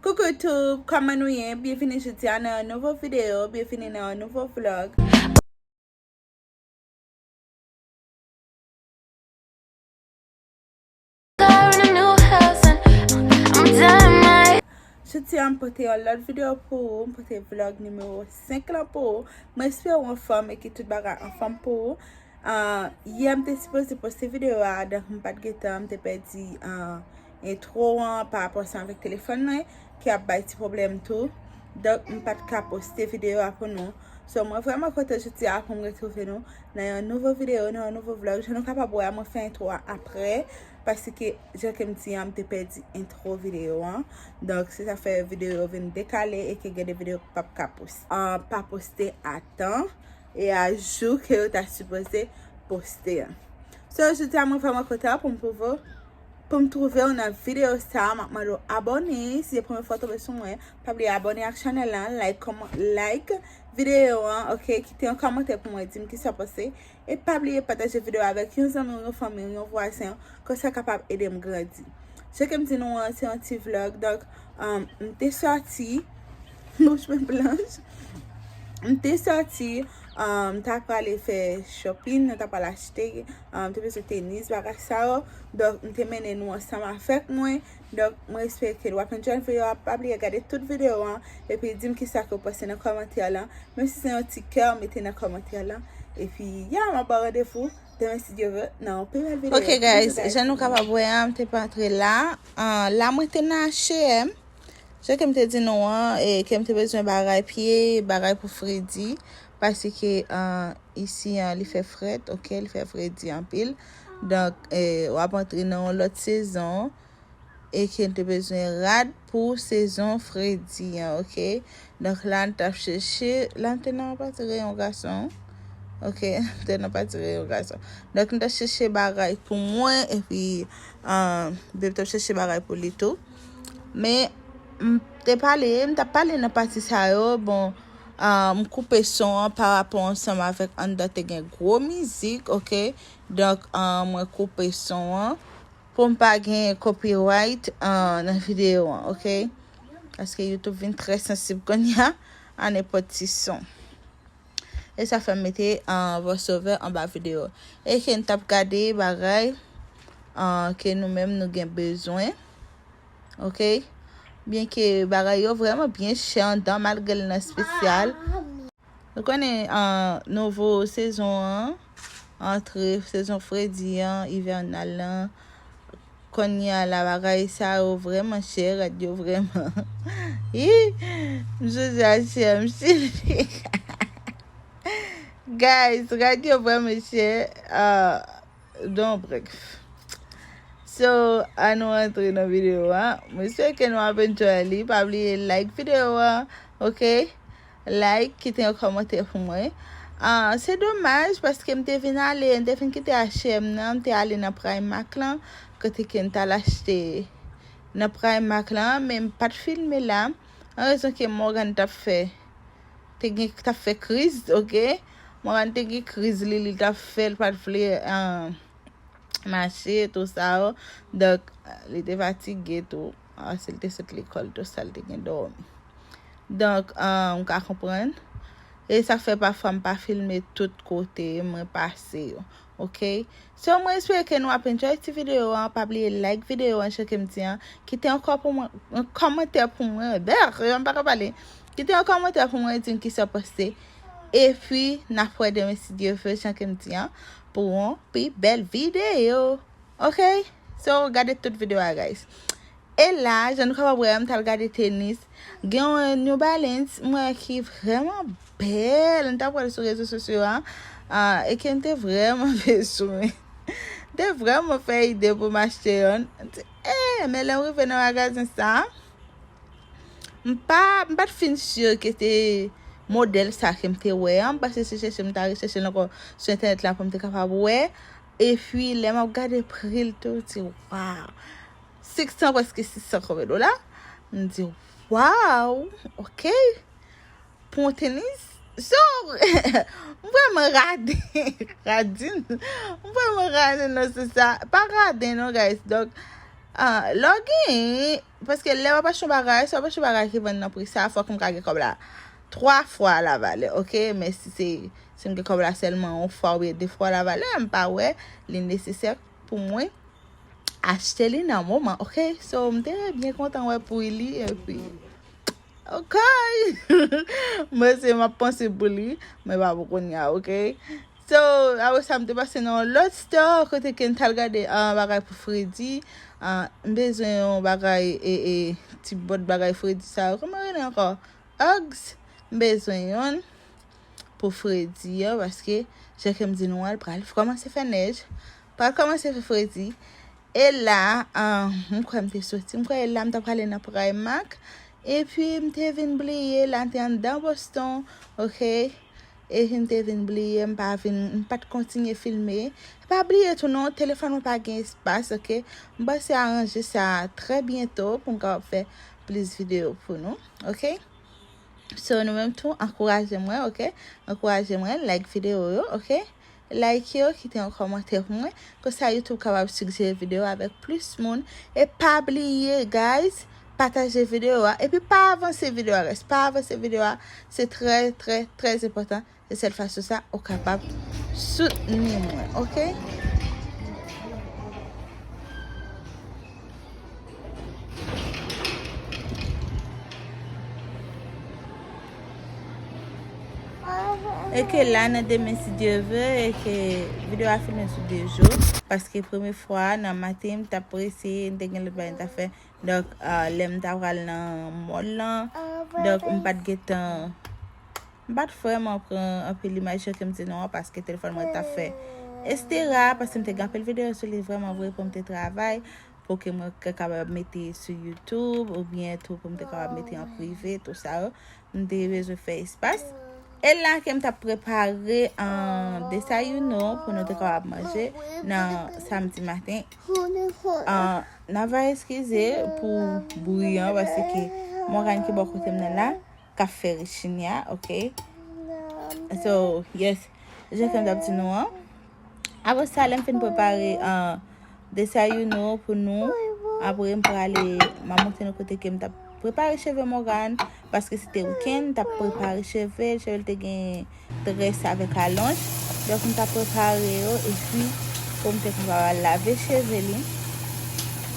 Coucou tout, kòman nou ye? Byenvini jodi a nan yon nouvo video, byenvini nan yon nouvo vlog. Jodi a m pote yon lòt video pou ou, m pote vlog nimewo 5 la pou ou. Mwen espere ou anfòm e ke tout bagay anfòm pou ou. Yè m te sipoze poste video a donk m pat gen tan m te pèdi entro an pa rapò sa avèk telefòn mwen ki ap bay ti pwoblèm tou donk m pat ka poste video a pou nou so mwen vrèman kontan jodi a pou m retwouve nou nan yon nouvo video nan yon nouvo vlog jan nou kapab wè mwen fè entro a aprè paske jan ke m di an m te pèdi entro video an donk se sa k fè video yo vin dekale e ke gen de video ki pap ka poste a tan e a jou ke yo ta sipoze poste an. So jodi a mwen vreman kontan pou m pwouve w, pou m twouve w nan videyo sa a, m ap mande w abone, si se premye fwa w tonbe sou mwen, pa bliye abone ak chanèl la, like kòman, like videyo an ok, kite yon kòmantè pou mwen di m kisa w panse, e pa bliye pataje videyo a avèk yon zanmi w, yon fanmi w, yon vwazen w, kòm sa kapab ede m grandi. Jan ke m di nou an se yon ti vlog, donk m te sòti. Bouch mwen blanch. M te soti, m ta prale fè shopping, m ta prale achte, m te bezwen tenis, bagay sa yo. Donk, m te mennen nou ansanm avèk mwen. Donk, m respekte l. W ap enjoy videyo a. Pa bliye gade tout videyo an. Epi di m ki sa ke w panse nan kòmantè lan. Menm si se yon ti kè, mete nan kòmantè lan. Epi, ya! M ap ba w randevou demen si Dye vle nan yon pi bèl videyo. Ok guys, jan nou kapab wè an, m te pa antre la. La mwen te nan H&M. Jan kem te di nou an kem te bezwen bagay pye bagay pou fredi paske isi an li fè frèt ok li fè fredi anpil donk wap antre nan yon lòt sezon e kem te bezwen rad pou sezon fredi an ok donk la nou tap chèche la nou te nan pati reyon gason ok nou te nan pati reyon gason donk nou tap chèche bagay pou mwen epi beb tap chèche bagay pou li tou. Men, m te pale, m ta pale nan pati sa yo, bon, m koupe son an pa rapò ansanm avèk anndan te gen gwo mizik, ok, donk mwen koupe son an pou m pa gen copyright nan videyo an, ok, paske YouTube vin trè sansib kounye a a nenpòt ti son. E sa fèm mete voiceover anba video. E ke n tap gade bagay ke nou menm nou gen bezwen. Ok. Byen ke bagay yo vreman byen chè andan malgre l nan spesyal. Nou konnen nouvo sezon an. antre sezon fredi an, ivènal lan. Kounye a la bagay sa yo vreman chè, rad yo vreman. Hi! M sezi a chè, m sezi. Guys, rad yo vreman chè. Uh, don brek. So, an nou antre nan video a. Mwen se ke nou ap enjoy li. Pa bliye like video a, ok? Like kite yon kòmantè pou mwen. Ahh se domaj paske m te vin ale m te fin kite H&M nan m te ale nan Primark lan kote ke m tal achte nan Primark lan men m pat filme la an rezon ke Morgan tap fè te gen tap fè kriz ok Morgan te gen kriz li li tap fè li pat vle mache tou sa donk li te fatige tou. Ah sil te sot lekòl tou sal te gen dòmi. Donk ou ka konprann. E sa fè pafwa m pa filme tout kote mwen pase yo. Ok. So mwen espere ke nou ap enjoy ti video an. Pa bliye like video an jan ke m di an. Kite yon kò pou mwen, yon kòmantè pou mwen. Berr! Jan m pa ka pale. Kite yon kòmantè pou mwen di m kisa w panse. E pi n ap wè demen si Dye vle jan ke m di an pou yon pi bèl video. Ok. So gade tout video a guys. E la jan nou kapab wè a m t al gade tenis gen yon New Balance m wè ki vrèman bèl m t ap wè l sou rezo sosyo a e ke m te vrèman bezwen m te vrèman fè ide pou m achte yonn m di e men lè m rive nan magazen sa m pa m pa t fin sur ke te modèl sa ke m te wè an m pase si chèche m ta rechèche l ankò sou entènèt la pou m te kapab wè Epi lè map gade pri l tou, m di waw! 500 preske 600 konbyen dola? M di waw! Ok! Pou yon tenis? So, m vrèman rade, radin, m vrèman rade nan sans sa. Pa rade non guys. Donk, lè w gen Paske lè wap achte yon bagay, si wap achte bagay ki vann nan pri sa, fòk m ka gen kòb la 3 fwa la valè ok, men si se si m gen kòb la sèlman yon fwa oubyen 2 fwa la valè, m pa wè li nesesè pou mwen achte li nan moman ok, so m te byen kontan wè pri li epi. Ok! Mwen se map panse pou li, mwen pa pou kounya ok. So, apre sa m te pase nan yon lòt store kote ke m tal gade an bagay pou fredi. An, m bezwen yon bagay e e ti bòt bagay fredi sa yo. Kouman yo rele ankò? Uggs. M bezwen yon pou fredi yo paske jan ke m di nou an l pral kòmanse fè nèj, pral kòmanse fè fredi. E la ahh m kwè m te soti, m kwè e la m ta prale nan Primark epi m te vin bliye la te anndan Boston ok epi m te vin bliye m pa vin m pat kontinye filme e pa bliye tou non telefòn mwen pa gen espas ok m pase aranje sa trè byento pou m kapab fè plis videyo pou nou ok so nou menm tou ankouraje mwen ok ankouraje mwen like videyo yo ok. Like yo, kite yon kòmantè pou mwen, konsa YouTube kapab sigjere video a avèk plis moun, e pa bliye guys pataje video a, epi pa avanse video a guys, pa avanse video a, se trè trè trè enpòtan, se sèl fason sa ou kapab soutni mwen ok. E ke la nan demen si Diyo vle, e ke video a fini sou 2 jou. Paske premye fwa nan maten m ta prese, m te gen lòt bagay m ta fè. Donk lè m ta pral nan mòl lan, donk m pat gen tan. M pa t vrèman pran anpil imaj yo ke m di non an paske telefòn mwen t ap fè estera paske m te gen anpil videyo sou li vrèman vre pou m te travay pou ke mwen te kapab mete sou youtube oubyen tou pou m te kapab mete an prive tou sa yo m te bezwen fè espas e la ke m t ap prepare an desayuno pou nou te kapab manje nan samdi maten an nan va eskize pou bri an paske Morgane ki bò kote m nan la. kap fè rechinya ok so yes jan kem tap di nou an apre sa lem fin prepare an desayuno pou nou apre m prale ma monte nou kote kem tap prepare cheve Morgan paske se te weekend tap prepare cheve cheve te gen tres avek alon dok m tap prepare yo e pi pou m te prepare lave cheve li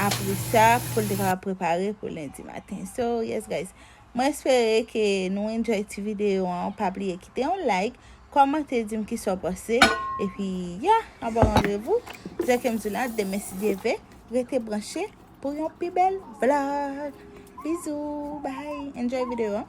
apre sa pou l te ka prepare pou lendi maten so yes guys Mwen espere ke nou enjoy ti video an, pa bliye kite yon like, kòmante dim kisa w panse, epi ya, anba randevou, jan kem di la, demen si Dye ve, rete branche pou yon pi bèl vlog. Bizou, bye, enjoy video an.